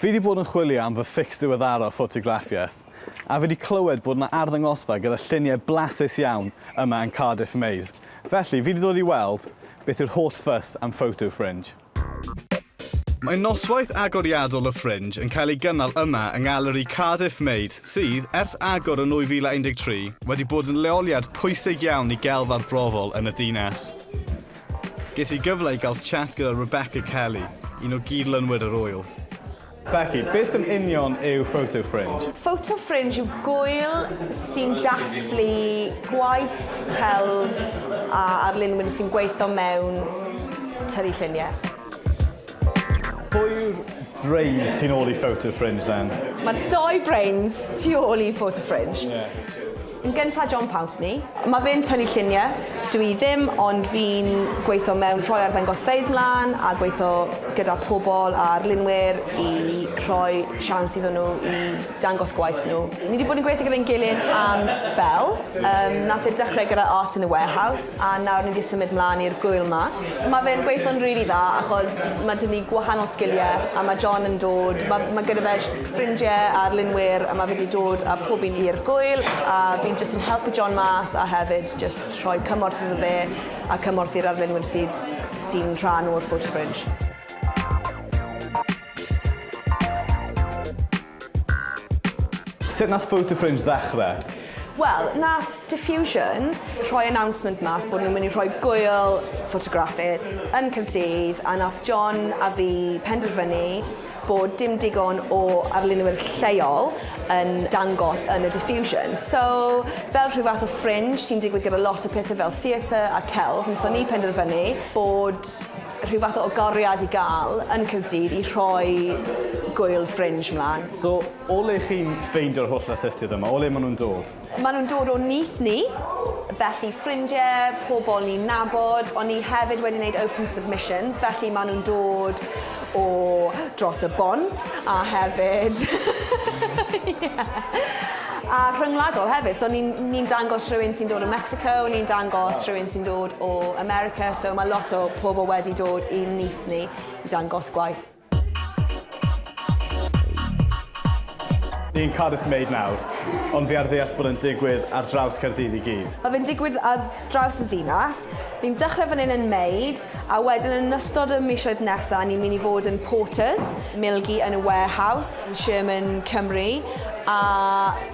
Fi 'di bod yn chwilio am fy ffics diweddara o ffotograffiaeth, a fi 'di clywed bod 'na arddangosfa gyda lluniau blasus iawn yma yn Cardiff Maze, felly fi 'di dod i weld beth yw'r holl fuss am Photo Fringe. Mae noswaith agoriadol y Fringe yn cael ei gynnal yma yng Ngaleri Cardiff Maze sydd, ers agor yn 2013, wedi bod yn leoliad pwysig iawn i gelf arbrofol yn y ddinas. Ges i gyfle i gael chat gyda Rebecca Kelly, un o gyd-lunwyr yr ŵyl. Becky, beth yn union yw Photo Fringe? Photo Fringe yw gŵyl sy'n dathlu gwaith celf a arlunwyr sy'n gweithio mewn tynnu lluniau. Pwy yw'r brains tu ôl i Photo Fringe then? Mae dou brains tu ôl i Photo Fringe. Yn gynta John Pountney. Mae fe'n tynnu lluniau, dw i ddim, ond fi'n gweithio mewn rhoi arddangosfeydd mlaen a gweithio gyda pobl a arlunwyr i rhoi siawns iddyn nhw i dangos gwaith nhw. Ni 'di bod yn gweithio gyda'n gilydd am sbel, yym nath e dechrau gyda Art in the Warehouse a nawr ni 'di symud mlaen i'r gŵyl 'ma. Mae fe'n gweithio'n rili dda achos ma' 'da ni gwahanol sgiliau a ma' John yn dod, ma' ma' gyda fe ffrindiau a arlunwyr a mae fe 'di dod a pob un i'r gwyl a fi'n jyst yn helpu John mas a hefyd jyst rhoi cymorth iddo fe a cymorth i'r arlunwyr sydd sy'n rhan o'r Photo Fringe. Sut nath Photo Fringe ddechrau? Wel, nath Diffusion rhoi announcement mas bod nhw'n mynd i rhoi gwyl ffotograffydd yn Caerdydd a nath John a fi penderfynu bod dim digon o arlunwyr lleol yn dangos yn y Diffusion. So, fel rhyw fath o fringe sy'n digwydd gyda lot o pethau fel theatr a celf, wnaethon ni penderfynu bod rhyw fath o agoriad i gael yn Caerdydd i rhoi gŵyl fringe mlaen. So, o le chi'n ffeindio'r holl artistiaid yma? O le maen nhw'n dod? Maen nhw'n dod o nyth ni, felly ffrindiau, pobl ni'n nabod, ond ni hefyd wedi wneud open submissions, felly maen nhw'n dod o dros y bont a hefyd ie a rhyngwladol hefyd, so ni'n ni'n dangos rhywun sy'n dod o Mexico, ni'n dangos rhywun sy'n dod o America, so mae lot o pobl wedi dod i'n nyth ni i dangos gwaith. Ni'n Cardiff Maid nawr, ond fi ar ddeall bod yn digwydd ar draws Caerdydd i gyd. Mae fe'n digwydd ar draws y ddinas. Ni'n dechrau fan hyn yn Maid, a wedyn yn ystod y misoedd nesaf ni'n mynd i fod yn Porters, Milgi yn y Warehouse, Sherman, Cymru, a...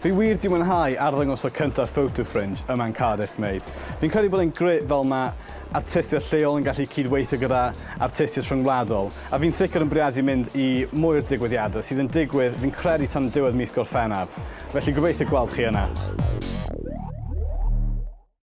Fi wir 'di mwynhau arddangos o cyntaf Photo Fringe yma yn Cardiff, mate. Fi'n credu bod e'n grêt fel ma' artistiaid lleol yn gallu cyd-weithio gyda artistiaid rhyngwladol, a fi'n sicr yn bwriadu mynd i mwy o'r digwyddiadau sydd yn digwydd fi'n credu tan diwedd mis Gorffennaf, felly gobeithio gweld chi yna.